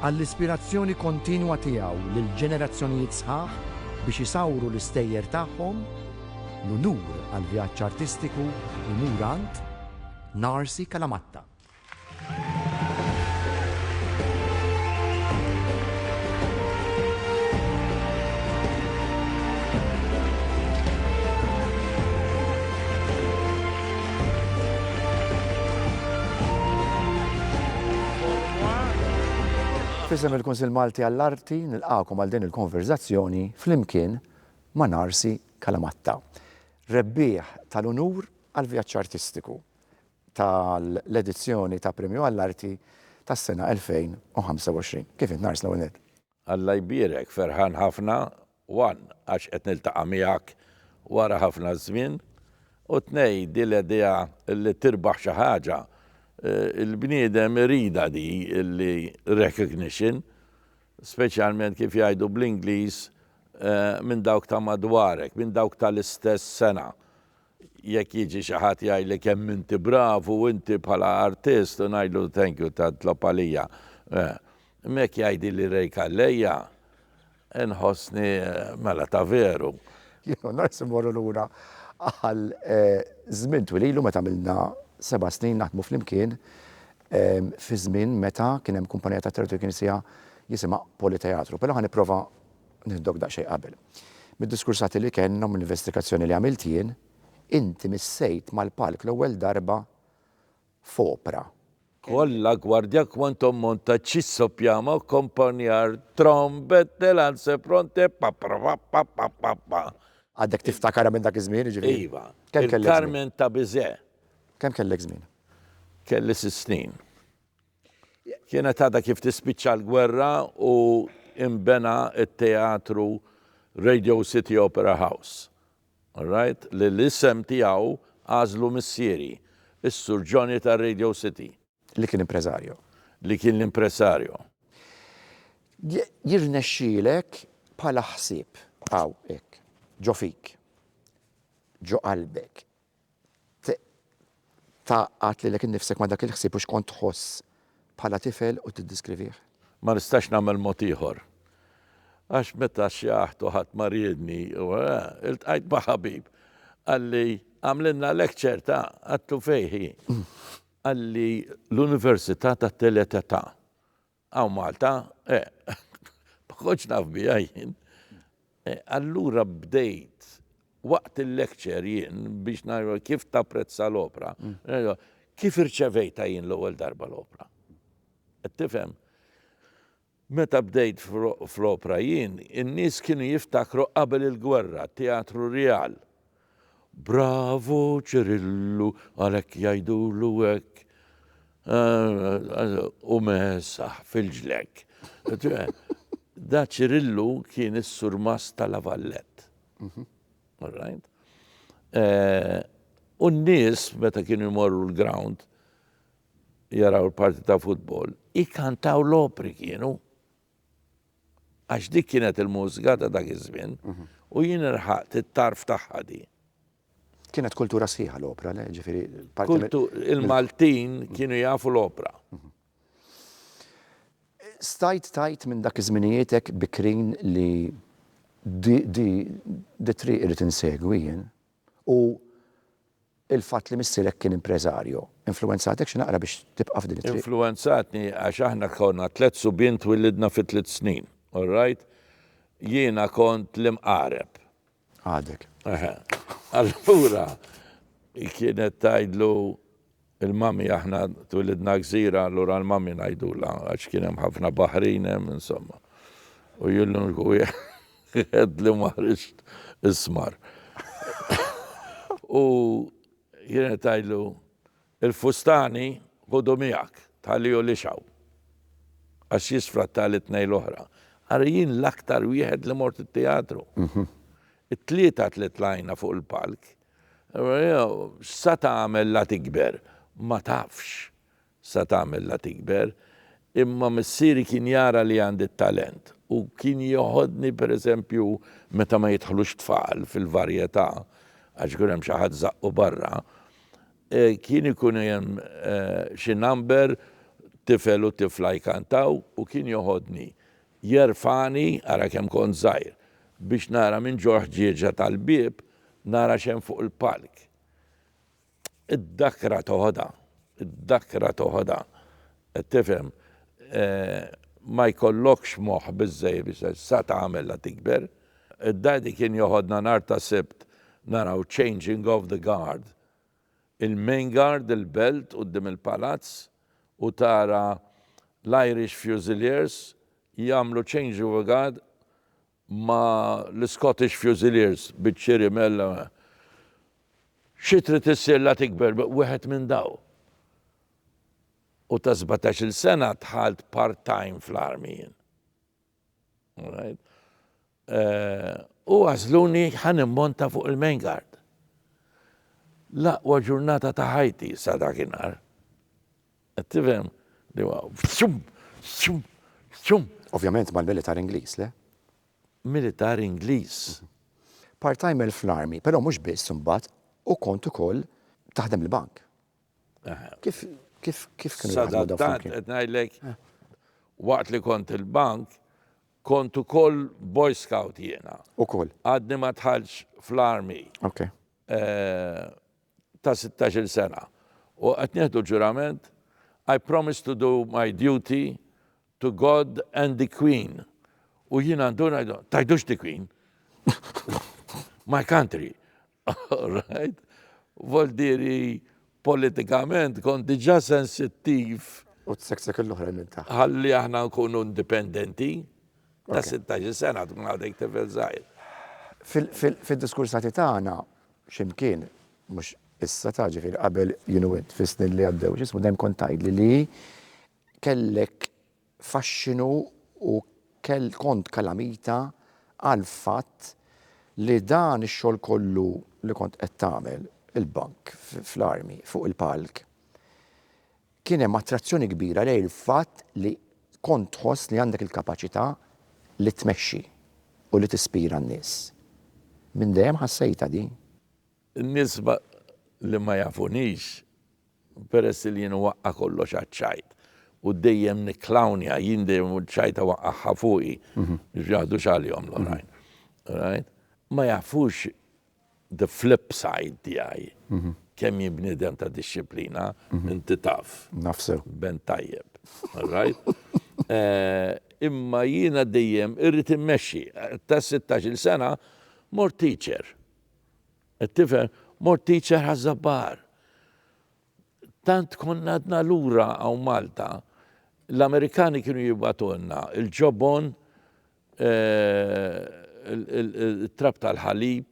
Għall-ispirazzjoni kontinwa tiegħu lil ġenerazzjonijiet sħaħ biex isawru l-istejjer tagħhom, l-unur għall-vjaġġ artistiku jmur għand Narsi Calamatta. F'isem il-Kunsill Malti għall-Arti nilqagħkom għal din il-konverżazzjoni flimkien ma' Narsi Calamatta, rebbieħ tal-unur għall-vjaġġ artistiku tal-edizzjoni ta' Premju għall-Arti tas-sena 2025. Kif int Nars l-ewwel nett? Alla jbierek, ferħan ħafna, one, għax qed niltaqa' miegħek wara ħafna żmien, u tnej, din l-idea li tirbaħ xi ħaġa, il-bniedem iridha di li recognition, speċjalment kif jgħidu bl-Ingliż minn dawk ta' madwarek, minn dawk tal-istess sengħa. Jekk jiġi xi ħadd jgħidli kemm inti bravu inti bħala artist u ngħidlu thank you ta' tlob għalija. Imma jekk jgħidili Ray Calleja inħossni mela ta' veru. Jien u Nors immorru lura għal żmien twil ilu meta għamilna seba' snin naħdmu flimkien fi żmien meta kien hemm kumpanija tat-teatru li kien isiha jisimha Politeatru. Però ħa nipprova Nihdok daqsxejn qabel. Mid-diskursati li kellna u mill-investigazzjoni li għamilt jien, inti missejt mal-palk l-ewwel darba f'opra. Kollha gwardja quantum monta cisso piamo accompagnare trombette lance pronte pa-pra-pa-pa-pa-pa-pa. Għadek tiftakarha minn dak iż-żmien, jiġifieri? Iva. Kemm kellek żmien? Il-Carmen ta' Bizet. Kemm kellek żmien? Kelli sitt snin. Kienet għadha kif tispiċċa l-gwerra u inbena t-teatru Radio City Opera House, alright, li l-isem tiegħu għażlu missieri, is-Sur Johnny ta' Radio City. Li kien impreżarju. Li kien l-impreżarju. Jirnexxielek bħala ħsieb, hawn hekk, ġo fik, ġo qalbek, Tgħaqqad lilek innifsek ma' dak il-ħsieb u x'kont tħoss bħala tifel u tiddiskrivih. Ma nistax nagħmel mod ieħor. Għax meta xjaħt u ħadd ma riedni u iltqajt ma' ħabib, qalli, Għamlilna lecture ta', Attufejħi. Qalli, L-Università tat-Tielet Età. Hawn Malta? Eh, ma kontx naf biha jien. Eh, allura bdejt waqt il-lecture jien biex nara kif tapprezza l-opra. Mm. Kif irċevejta jien l-ewwel darba l-opra? Qed tifhem? Meta bdejt fl-opra jien, in-nies kienu jiftakru qabel il-gwerra, Teatru Real. Bravu Cirillu għalhekk jgħidulu hekk u mesaħ fil-ġlekk. Da Cirillu kien is-surmast ta' La Vallette. All right? U n-nies meta kienu jmorru l-ground jaraw l-parti ta' futbol, ikantaw l-opri kienu. Għax dik kienet il-mużika ta' dak iż-żmien u jien irħaqt it-tarf tagħha di. Kienet kultura sħiħa l-opra, le? Ġifieri Il-Maltin kienu jafu l-opra. Stajt tajt minn dak iż-żmienijietek bikrin li di di triq irid insegwi jien? u l-fatt li missierek kien impreżarju, influwenzatek xi naqra biex tibqa' f'din it-triq? Influwenzatni għax aħna konna tliet subien twillidna fi tliet snin, all right? Jiena kont l-imqareb. Għadek. Eħe. Allura kienet tgħidlu. Il-mummy aħna twilidna gżira allura l-mummy ngħidulha għax kien hemm ħafna baħrin hemm insomma. U jien l-uniku wieħed li ma ħriġt ismar. U kienet tgħidlu, Il-fustani ħudu miegħek, tħalli hu lixgħu. Għax jisfratta lit-tnejn l-oħra. Ara jien l-aktar wieħed li mort it-teatru. It-tlieta li tlajna fuq il-palk X'sa tagħmel la tikber? Ma tafx x'sa tagħmel la tikber, imma missieri kien jara li għandi t-talent u kien jeħodni pereżempju meta ma jidħlux tfal fil-varjetà għax ikun hemm xi ħadd żaqqu barra, kien ikun hemm xi number tifel u tifla jkantaw u kien jeħodni Jerfagħni, ara kemm kont żgħir, biex nara minn ġo l-ħġieġa tal-bieb nara x'hemm fuq il-palk. Id-dakra toħodha, id-dakra toħodha. Qed tifhem? Ma jkollokx moħħ biżżejjed biex tgħid sa tagħmilha tikber. Id-Daddy kien joħodna nhar ta' Sibt naraw Changing of the Guard. il-Main Guard, il-Belt quddiem il-Palazz u tara l-Irish Fusiliers jagħmlu change-over guard ma' l-Scottish Fusiliers biċ-Ċiri Mela xi trid issir la tikber wieħed minn dawn. U ta' sbatax-il sena dħalt part-time fl-Army jien. U għażluni ħa nimmonta fuq il-Main Guard. L-aqwa ġurnata ta' ħajti sa dakinhar. Qed tifhem? Li huwa f'sum, f'sum, f'sum. Ovvjament mal-militar Ingliż, le? Militar Ingliż. Part-timer fl-Army, però mhux biss imbagħad, u kont ukoll taħdem il-bank. Kif kif kif kienu Sadattant qed ngħidlek eh. waqt li kont il-bank kont ukoll boy scout jiena. Ukoll. Għadni ma tħallx fl-army. Ok. Eh, ta' 16 sena. U qed nieħdu ġurament I promise to do my duty to God and the Queen. U jiena għandu ngħidu, tajdux the Queen. my country. All right. Voltieri politikament kont diġà sensittiv. U tseksek l-oħrajn minn taħt. Ħalli aħna nkunu indipendenti. Ta' 16 sena tkun għadek tifel żgħir. Fid-diskursati tagħna x'imkien, mhux issa ta' ġifieri qabel jien u int fis-snin li għaddew, x'ismu dejjem kont tgħidli li kellek fascinu u kont kalamita għall-fatt li dan ix-xogħol kollu li kont qed tagħmel, il-bank fl-Army, fuq il-palk, kien hemm attrazzjoni kbira lejn il-fatt li kont tħoss li għandek il-kapaċità li tmexxi u li tispira n-nies. Minn dejjem ħassejtha din. In-nies li ma jafunix, peress li jien nwaqqa' kollox għaċ-ċajt u dejjem nikklownja, jien dejjem ċ-ċajta waqqagħha fuqi biex ma jaħdux għalihom l-oħrajn, right? Ma jafux the flip side tiegħi, kemm jien bniedem ta' dixxiplina, inti taf. Naf sew. Ben tajjeb, alright? Imma jiena dejjem irrid immexxi. Ta' sittax-il sena mort teacher. It-tifel, Mort teacher Ħaż-Żabbar. Tant konna għadna lura hawn Malta, l-Amerikani kienu jibgħatulna il-ġobon, it-trab tal-ħalib,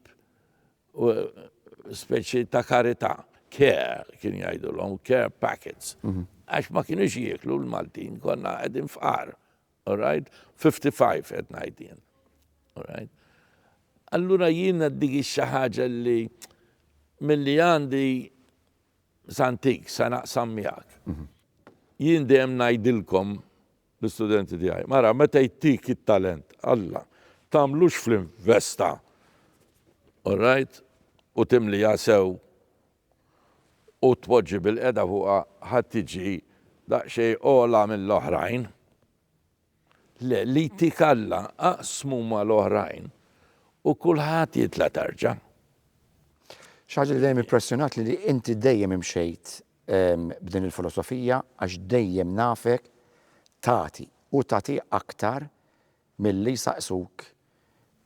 speċi ta' karità, care kienu jgħidulhom, care packets. Għax ma kinux jieklu l-Maltin, konna qegħdin fqar. All right? 55 qed ngħid jien. All right? Allura jiena dik xi ħaġa li milli għandi santik sa naqsam miegħek. Mhm. Jien dejjem ngħidilkom l-istudenti tiegħi, mara meta jtik it-talent Alla, tagħmlux fl-investa. All right? U timli jasew u tpoġġi bilqiegħda fuqha ħa tiġi daqsxejn ogħla mill-oħrajn. Le, li jtik Alla aqsmu mal-oħrajn u kulħadd jitla' tarġa'. Xi ħaġa li dejjem impressjonatni li inti dejjem imxejt b'din il-filosofija għax dejjem nafek tagħti u tagħti aktar milli jsaqsuk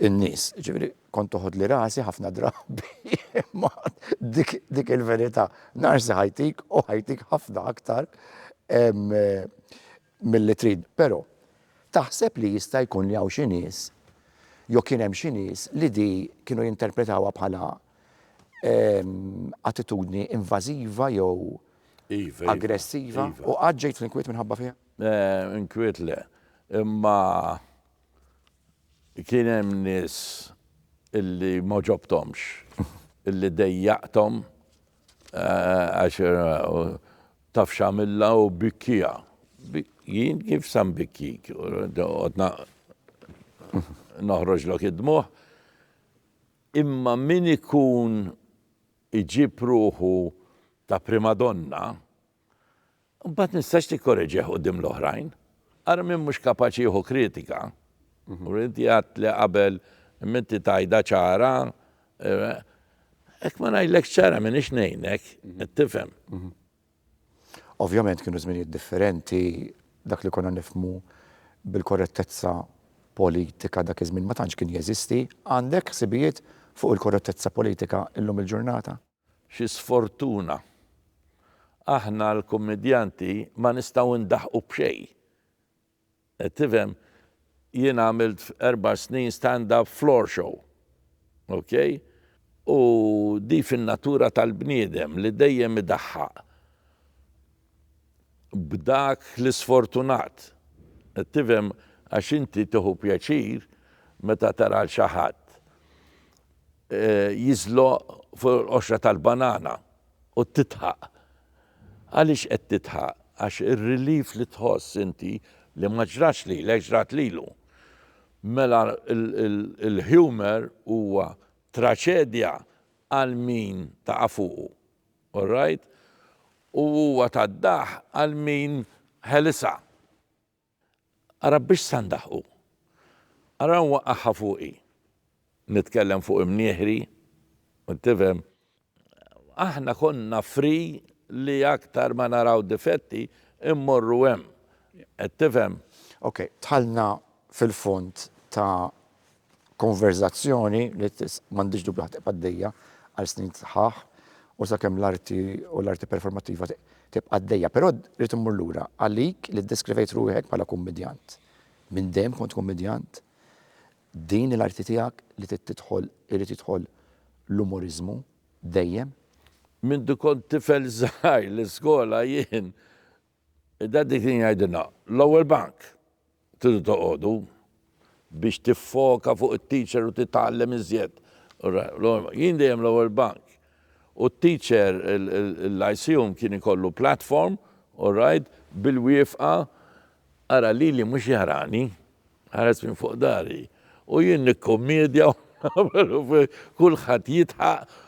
in-nies. Jiġifieri kont toħodli rasi ħafna drabi imma dik il-verità narsi ħajtik u ħajtik ħafna aktar milli trid. Però taħseb li jista' jkun li hawn xi nies jew kien hemm xi nies li di kienu jinterpretawha bħala attitudni invażiva jew aggressiva u qatt ġejt fl-inkwiet minħabba fiha? Inkwiet le, imma kien hemm nies illi m'għoġobthomx illi dejjaqthom għax taf x'għamilha u bikkiha. Jien kif sa nbikkik? Noqgħod noħroġlok id-dmugħ. Imma min ikun iġib ruħu ta' primadonna Imbagħad nistax tikkoreġih quddiem l-oħrajn. Ara min mhux kapaċi jieħu kritika. U inti għedt li qabel imma inti tgħidha ċara, hekk ma ngħidlekx ċara m'iniex ngħinek, qed tifhem. Ovvjament kienu żminijiet differenti, dak li konna nifhmu bil-korrettezza politika dak iż-żmien ma tantx kien jeżisti. Għandek ħsibijiet fuq il-korrettezza politika illum il-ġurnata? Xi sfortuna! Aħna l-kummedjanti ma nistgħu ndaħqu b'xejn. Qed tifhem? Jien għamilt erba' snin stand up floor show. Ok? U di fin-natura tal-bniedem li dejjem idaħħaq. b'dak l-isfortunat. Qed tifhem għax inti tieħu pjaċir meta tara 'l xi ħadd jiżloq fuq il-qoxra tal-banana u tidħaq. Għaliex qed tidħaq? Għax ir-relief li tħoss inti li ma ġrax lilek ġrat lilu. Mela l-humour huwa traċedja għal min taqa' fuqu. Orrajt, u huwa ta d-daħq għal min ħelisha. Ara biex sa ndaħqu. Ara nwaqqagħha fuqi. Nitkellem fuq imnieħri, tifhem. Aħna konna free li aktar ma naraw difetti immorru hemm, qed tifhem. Ok, dħalna fil-fond ta Konverżazzjoni li m'għandhiex dubju ħa tibqa' għaddejja għal snin sħaħ u sakemm l-arti u l-arti performattiva tibqa' għaddejja. Però rrid immur lura, għalik li ddeskrivejt ruħek bħala kummedjant, minn dejjem kont kummedjant? Din hi l-arti tiegħek li trid tidħol irid jidħol l-umoriżmu dejjem? Mindu kont tifel żgħir l-iskola jien Id-Daddy kien jgħidilna, L-ewwel bank tridu toqogħdu biex tiffoka fuq it-teacher u titgħallem iżjed. Jien dejjem l-ewwel bank. U t-teacher, il-lyceum kien ikollu platform, alright, bil-wiefqa, ara lili mhux jarani, ħares minn fuq dari. U jien nikkummedja u nagħmel u kulħadd jidħaq.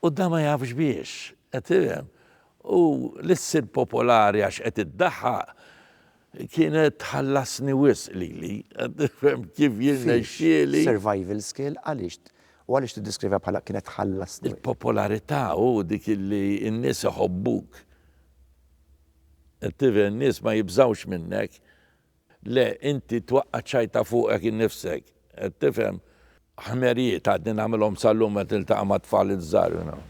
U dan ma jafx biex, qed tifhem? U li ssir popolari għax qed iddaħħaq kienet tħallasni wisq lili, qed tifhem, kif jirnexxieli. Fiex? Survival skill? Għaliex? U għaliex tiddiskrivha bħala kienet tħallasni wisq? Il-popolarità u dik li n-nies iħobbuk. Qed tifhem, n-nies ma jibżgħux minnek. Le, inti twaqqa' ċ-ċajta fuqek innifsek. Qed tifhem? Ħmerijiet għadni nagħmilhom sal-lum meta niltaqa' mat-tfal iż-żgħar, you know.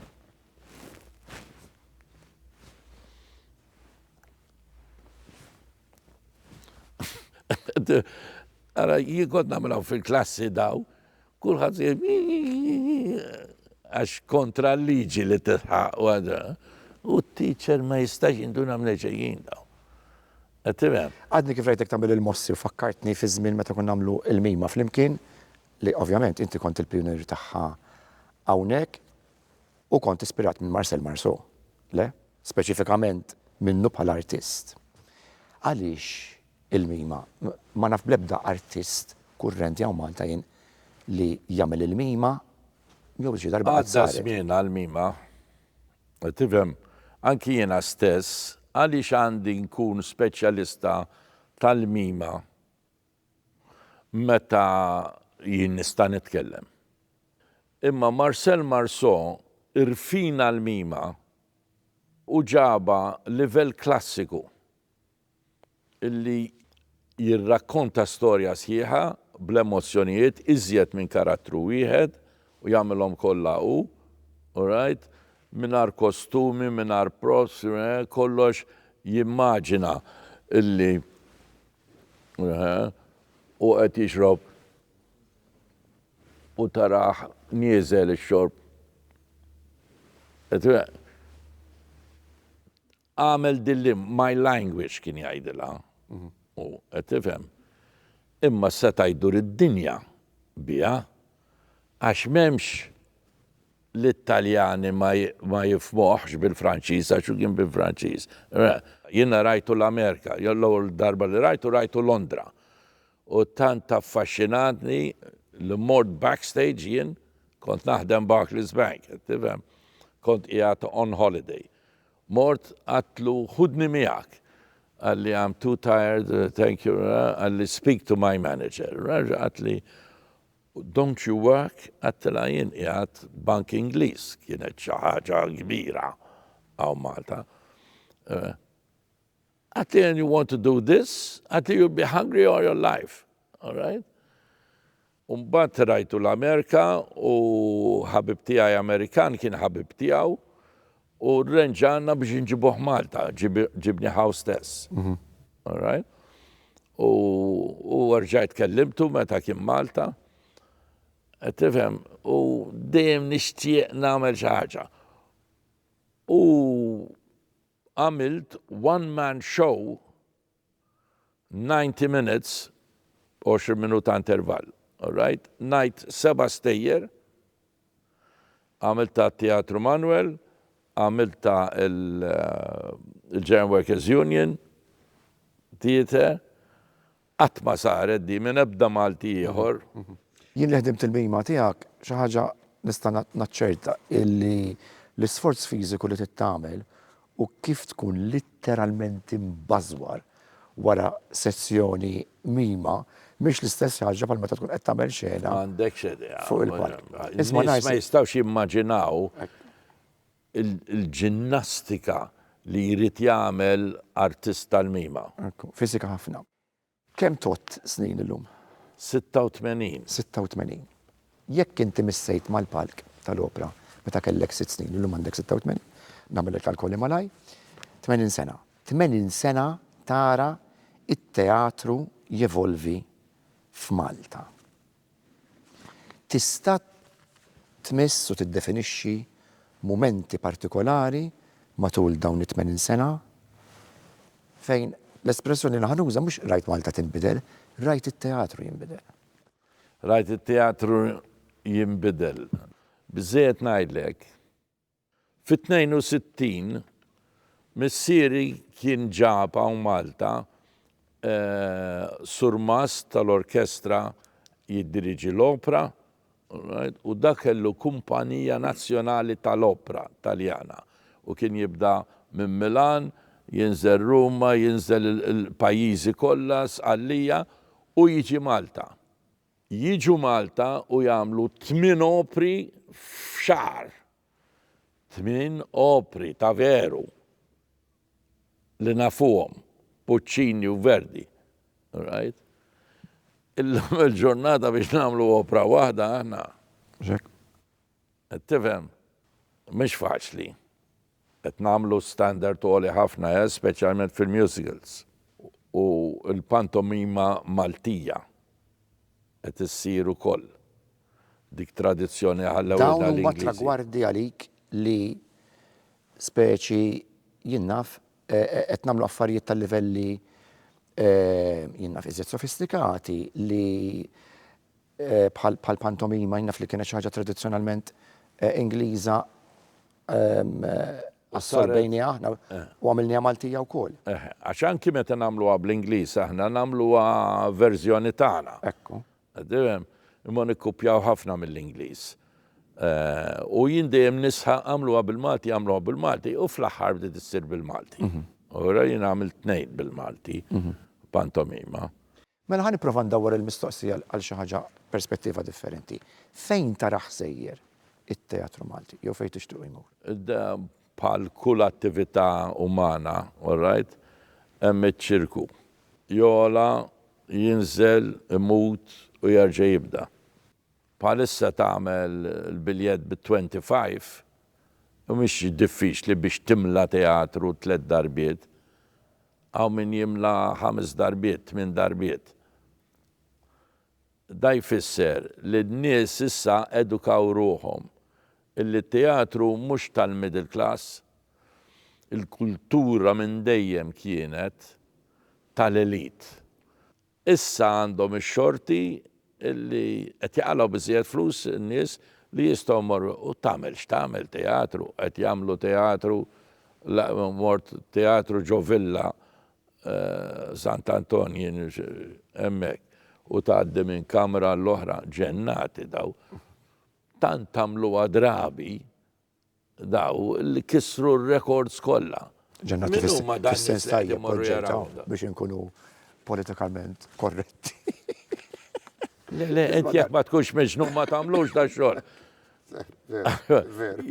Ara, jien kont nagħmilhom fil-klassi daw, kulħadd għax kontra l-liġi li tilħaq u għadha. U t-teacher ma jistax jinduna minn xejn daw. Għadni kif rajtek tagħmel il-mossi u fakkartni fiż-żmien meta konna nagħmlu l-mima flimkien, li ovvjament inti kont il-pijunier tagħha hawnhekk u kont ispirat minn Marcel Marceau, le, speċifikament minnu bħala artist. Għaliex il-mima? Ma naf bl-ebda artist kurrenti hawn Malta jien li jagħmel il-mima jew xi darba qed saret. Għadda żmien għall-mima. Tifhem, anki jiena stess, għaliex għandi nkun speċjalista tal-mima meta jien nista' nitkellem? Imma Marcel Marceau irfina l-mima u ġabha livell klassiku. li jirrakkonta storja sħiħa bl-emozzjonijiet iżjed minn karattru wieħed u jagħmilhom kollha hu, alright, mingħajr kostumi, mingħajr props, kollox jimmaġina li hu qed jixrob u tarah nieżel ix-xorb. Agħmel din li my language kien jgħidilha hu, qed tifhem? Imma seta' jdur id-dinja biha għax m'hemmx l-Italjani ma jifhmuhx bil-Franċiż għax hu kien bil-Franċiż. Jiena rajtu l-Amerika, jew l-ewwel darba li rajtu rajtu Londra. U tant affaxxinatni li mort backstage jien kont naħdem Barclays Bank, qed tifhem? Kont qiegħed on holiday. Mort għadtlu ħudni miegħek. Qalli I'm too tired, thank you, qalli speak to my manager. Raġa' qaltli don't you work? Għadtilha jien qiegħed bank Ingliż, kienet xi ħaġa kbira hawn Malta. Qaltli and you want to do this? Qaltli you'll be hungry all your life, alright? U mbagħad rajtu l-Amerika u ħabib tiegħi Amerikan kien ħabib tiegħu u rrenġana biex inġibuh Malta, ġibni ħaw stess. All right? U u rġajt kellimtu meta kien Malta. Qed tifhem u dejjem nixtieq nagħmel xi ħaġa. U għamilt one man show 90 minutes, 20 minuta intervall. Alright? Ngħid seba' stejjer, għamilt tat-Teatru Manwel, għamilt ta' il-German Workers Union Theatre, qatt ma saret din minn ebda Malti ieħor. Jien li ħdimt il-mima tiegħek, xi ħaġa nista' naċċerta illi l-isforz fiżiku li trid tagħmel u kif tkun litteralment imbażwar wara sessjoni mima mhix l-istess ħaġa bħal meta tkun qed tagħmel xena M'għandekx idea. fuq il-palk. Nies Isma' ma ngħid jistgħux jimmaġinaw il- il-ġinnastika li jrid jagħmel artist tal-mima. Ekku, fiżika ħafna. Kemm tgħodd snin illum? Sitta u tmenin. Sitta u tmenin. Jekk inti missejt mal-palk tal-opra meta kellek sitt snin, illum għandek sitta u tmenin, nagħmel il-kalkoli malajr, tmenin sena. Tmenin sena tara t-teatru jevolvi f'Malta. Tista' tmiss u tiddefinixxi mumenti partikolari matul dawn it-tmenin sena fejn l-espressjoni li ħa nuża mhux rajt Malta tinbidel, rajt it-teatru jinbidel. Rajt it-teatru jinbidel. Biżżejjed ngħidlek Fit-62, missieri kien ġab hawn Malta surmast tal-orkestra jiddiriġi l-opra u da kellu kumpanija nazzjonali tal-opra Taljana u kien jibda minn Milan, jinżel Ruma, jinżel il-pajjiżi kollha, Sqallija u jiġi Malta. jiġu Malta u jagħmlu tmien opri f'xahar. Tmien opri ta' veru li nafuhom, Puccini u Verdi. Right? Illum il-ġurnata biex nagħmlu opra waħda aħna. Mhux hekk? Qed tifhem? Mhix faċli. Qed nagħmlu standard għoli ħafna, eh, speċjalment fil-musicals u l-pantomima Maltija qed issir ukoll. Dik tradizzjoni li ħallewlna l-Ingliżi. Dawn huma tragwardi għalik li speċi jien naf qed nagħmlu affarijiet ta' livelli jien naf iżjed sofistikati li bħall-pantomima, jien naf li kienet xi ħaġa tradizzjonalment Ingliża, assorbejniha aħna u għamilniha Maltija wkoll. Għax anki meta nagħmluha bl-Ingliż aħna nagħmluha verżjoni tagħna. Ekku. Imma nikkupjaw ħafna mill-Ingliż. U jien dejjem nisħaq għamluha bil-Malti, għamluha bil-Malti u fl-aħħar bdiet issir bil-Malti. Ura jien għamilt tnejn bil-Malti, pantomima. Mela ħa nipprova ndawwar il-mistoqsija għal xi ħaġa perspettiva differenti. Fejn tarah sejjer it-teatru Malti jew fejn tixtiequ jmur? Bħal kull attività umana, all right, hemm iċ-ċirku. Jogħla, jinżel, imut u jerġa' jibda. Bħalissa tagħmel il-biljett bi twenty five u mhix diffiċli biex timla teatru tliet darbiet. Hawn min jimla ħames darbiet, tmien darbiet. Da jfisser li n-nies issa edukaw ruħhom illi t-teatru mhux tal-middle class. Il-kultura minn dejjem kienet tal-elite. Issa għandhom ix-xorti li qed jaqalgħu biżżejjed flus in-nies li jistgħu jmorru u tagħmel x'tagħmel teatru, qed jagħmlu teatru la mort teatru ġo Villa Sant'Anton jien hemmhekk u tgħaddi minn kamra għall-oħra, ġennati daw. Tant għamluha drabi Daw li kissru r-rekords kollha. Ġennati fis-sens tajjeb oġġettaw biex inkunu politikament korretti. Le, le, int jekk ma tkunx miġnun ma tagħmlux dan xogħol.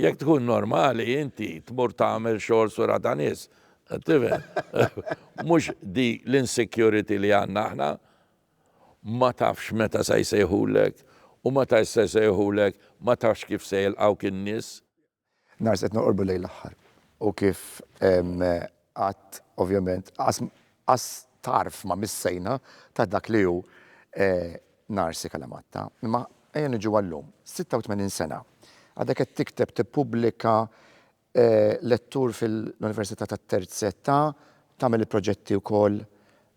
Jekk tkun normali inti tmur tagħmel xogħol sura ta' nies. Tifhem? Mhux di l-insecurity li għandna aħna. Ma tafx meta se jsejħulek, u meta se jsejħulek ma tafx kif se jilqgħuk in-nies. Nars qed noqorbu lejn l-aħħar u kif għadt ovvjament qas tarf ma missejna ta' dak li hu Narsi Kalamatta. Imma ejja niġu għal-lum. 86 sena. Għadek qed tikteb, tippubblika lettur fil-Università tat-Terz Età, tagħmel il-proġetti wkoll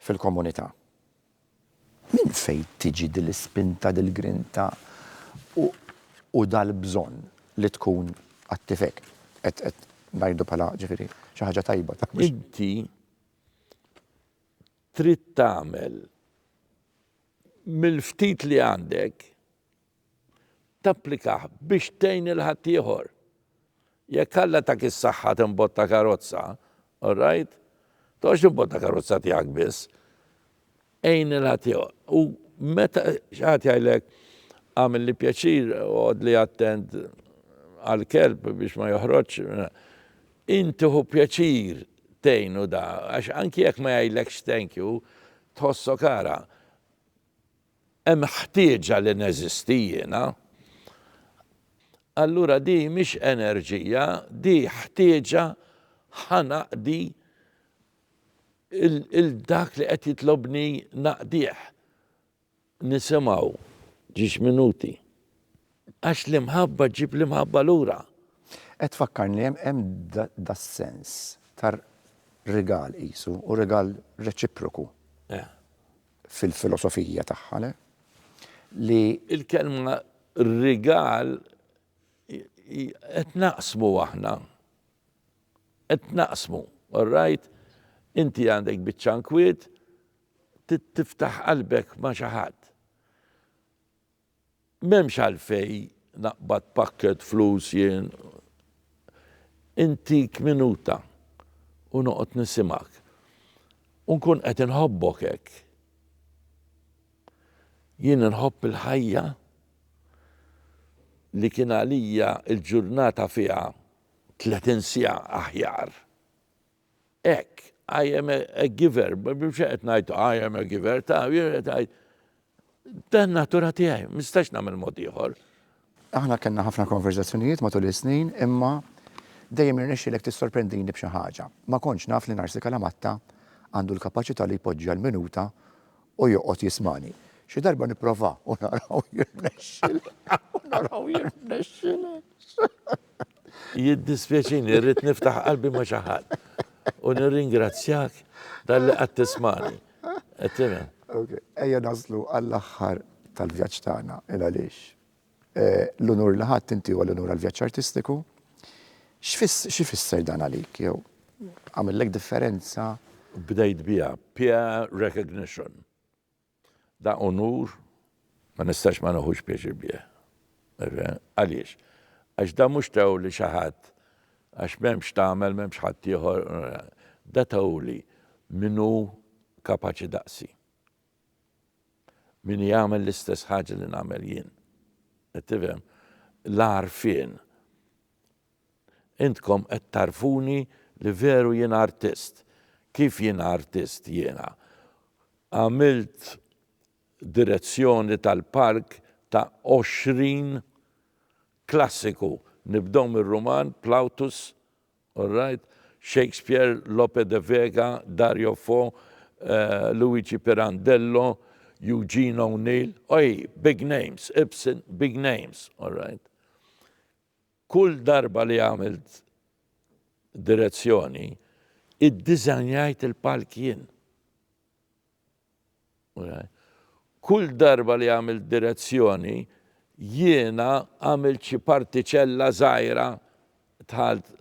fil-komunità. Minn fejn tiġi din l-ispinta, din l-grinta u dal-bżonn li tkun attiv hekk? Qed ngħidu bħala ġifieri xi ħaġa tajba. Inti trid tagħmel mill-ftit li għandek tapplikah biex tgħin lil ħaddieħor. Jekk Alla tak is-saħħa timbotta karozza, all right, toqgħodx timbotta karozza tiegħek biss, għin lil ħaddieħor. U meta xi ħadd jgħidlek għamilli pjaċir għodli attent għall-kelb biex ma joħroġx, inti hu pjaċir tgħinu da, għax anki jekk ma jgħidlekx thank you, tħossok ara. Hemm ħtieġa li neżisti jiena? Allura di mhix enerġija, di ħtieġa ħa naqdi lil dak li qed jitlobni naqdih. Nisimgħu ġiex minuti. Għax l-imħabba ġġib l-imħabba lura. Qed tfakkarni hemm das-sens ta' rigal qisu u rigal reċiproku. fil-filosofija tagħha le li. Il-kelma rigal qed naqsmu aħna. Qed naqsmu, all right? Inti għandek biċċa nkwiet, tiftaħ qalbek ma' xi ħadd. M'hemmx għalfejn naqbad pakkett flus jien. Intik minuta u noqgħod nisimgħek. U nkun qed inħobbok hekk. Jien inħobb il-ħajja li kien għalija l-ġurnata fiha tletin siegħa aħjar. hekk, I am a giver, mhux qed ngħid I am a giver ta', jien qed ngħid dan in-natura tiegħi, ma nistax nagħmel mod ieħor. Aħna kellna ħafna konverżazzjonijiet matul is-snin imma dejjem irnexxielek tissorprendini b'xi ħaġa. Ma kontx naf li Narsi Kalamatta għandu l-kapaċità li jpoġġi għall-minuta u joqgħod jismagħni. Xi darba nipprova u naraw jirnexxilek, u naraw jirnexxilek. Jiddispjaċini, rrid niftaħ qalbi ma' xi ħadd u nirringrazzjak talli qgħadt tismagħni. Qed tifhem? Ejja naslu għall-aħħar tal-vjaġġ tagħna, il għaliex. L-unur li ħadt inti huwa l-unur għall-vjaġġ artistiku. Xi fisser dan għalik jew għamillek differenza? Bdejt biha peer recognition. Dan unur ma nistax ma neħux pjaċir bih. Għaliex? Għax dan mhux tawli xi ħadd għax m'hemm x'tagħmel, m'hemmx ħaddieħor, dan tawli min hu kapaċi daqsi. Min jagħmel l-istess ħaġa li nagħmel jien. Qed tifhem? L-għarfien. Intkom qed tagħrfuni li veru jiena artist. Kif jiena artist jiena? Għamilt direzzjoni tal-park ta' għoxrin klassiku, nibdew mir-Ruman, Plautus, alright, Shakespeare, Lope de Vega, Dario Fo, Luigi Pirandello, Eugene O'Neill, oi, big names, Ibsen, big names, alright. Kull darba li għamilt direzzjoni, iddiżanjajt il-palk jien. Kull darba li għamilt direzzjoni, jiena għamilt xi partiċella żgħira dħalt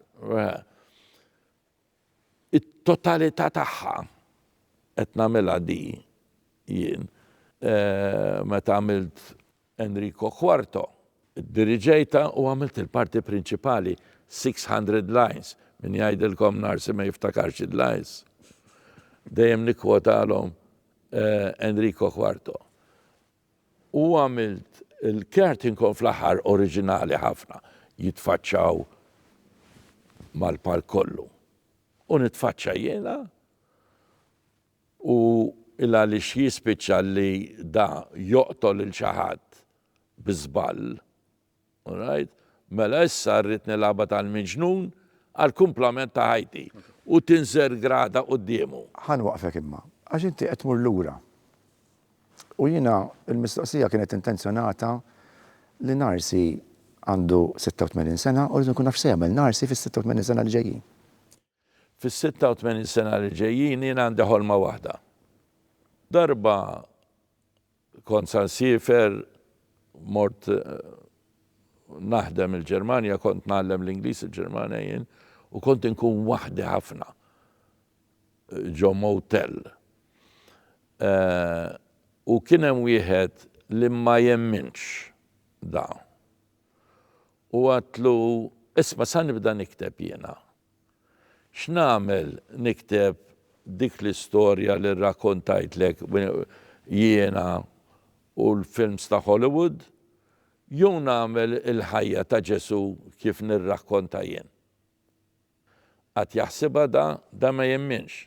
it-totalità tagħha qed nagħmilha di jien. Meta għamilt Enrico Quarto. Iddirigejtha u għamilt il-parti prinċipali, Six Hundred Lines, min jgħidilkom Narsi ma jiftakarx id-lines? Dejjem nikkwotalhom Enrico Quarto. U għamilt il-curtain call fl-aħħar oriġinali ħafna, jitfaċċaw mal-palk kollu. U nitfaċċa jiena. U il-għaliex jispiċċa li da joqtol lil xi ħadd bi żball. Alright? Mela issa rrid nilgħabha tal-miġnun għall-kumplament ta' ħajti u tinżel grada quddiemu. Ħa nwaqqfek imma, għax inti qed tmur lura. U jiena, il-mistoqsija kienet intenzjonata li Narsi għandu 86 sena u rrid inkun naf x'se jagħmel Narsi fis-86 sena li ġejjin. Fis-86 sena li ġejjin jien għandi ħolma waħda. Darba kont sa nsiefer mort naħdem il-Ġermanja, kont ngħallem l-Ingliż il-Ġermanja jien u kont inkun waħdi ħafna ġo motel. Eh, u kien hemm wieħed li ma jemminx da. U għatlu, isma sa nibda nikteb jiena, X'nagħmel nikteb dik l-istorja li rrakkontajtlek jiena u l-films ta' Hollywood, jew nagħmel il-ħajja ta' Ġesù kif nirrakkonta jien? Qatt jaħsibha da, da ma jemminx.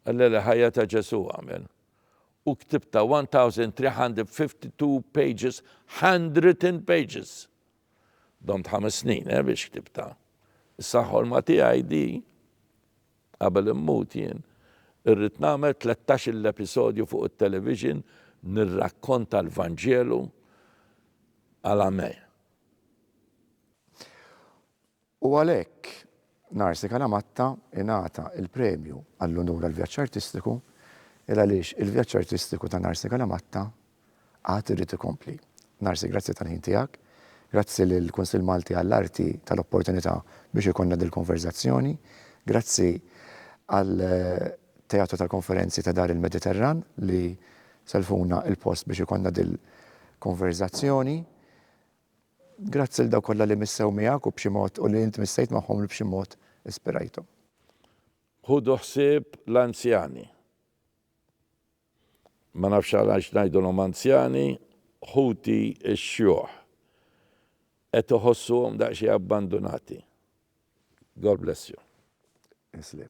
Alla li ħajja ta' Ġesù għamel. U ktibtha 1352 pages, handwritten pages! Domt ħames snin, eh, biex ktibtha. Issa ħolma tiegħi di, qabel immut jien, irrid nagħmel tlettax-il episodju fuq it-television nirrakkonta l-Vanġelu għal Amè. U għalhekk, Narsi Calamatta ingħata l-premju għall-unur għall-vjaġġ artistiku il għaliex il-vjaġġ artistiku ta' Narsi Calamatta għad irid ikompli. Narsi grazzi tal-ħin tiegħek, grazzi lill-Kunsill Malti għall-Arti tal-opportunità biex ikollna dil-konverżazzjoni, grazzi għall-Teatru tal-Konferenzi ta' Dar il-Mediterran li sellfuna l-post biex ikollna dil-konverżazzjoni. Grazzi lil dawk kollha li missew miegħek u b'xi mod u li int missejt magħhom u li b'xi mod ispirajthom. Ħudu ħsieb l-anzjani. Ma nafx għalax ngħidulhom anzjani, ħuti x-xjuħ. Qed iħossuhom daqsxejn abbandunati. God bless you. Islib.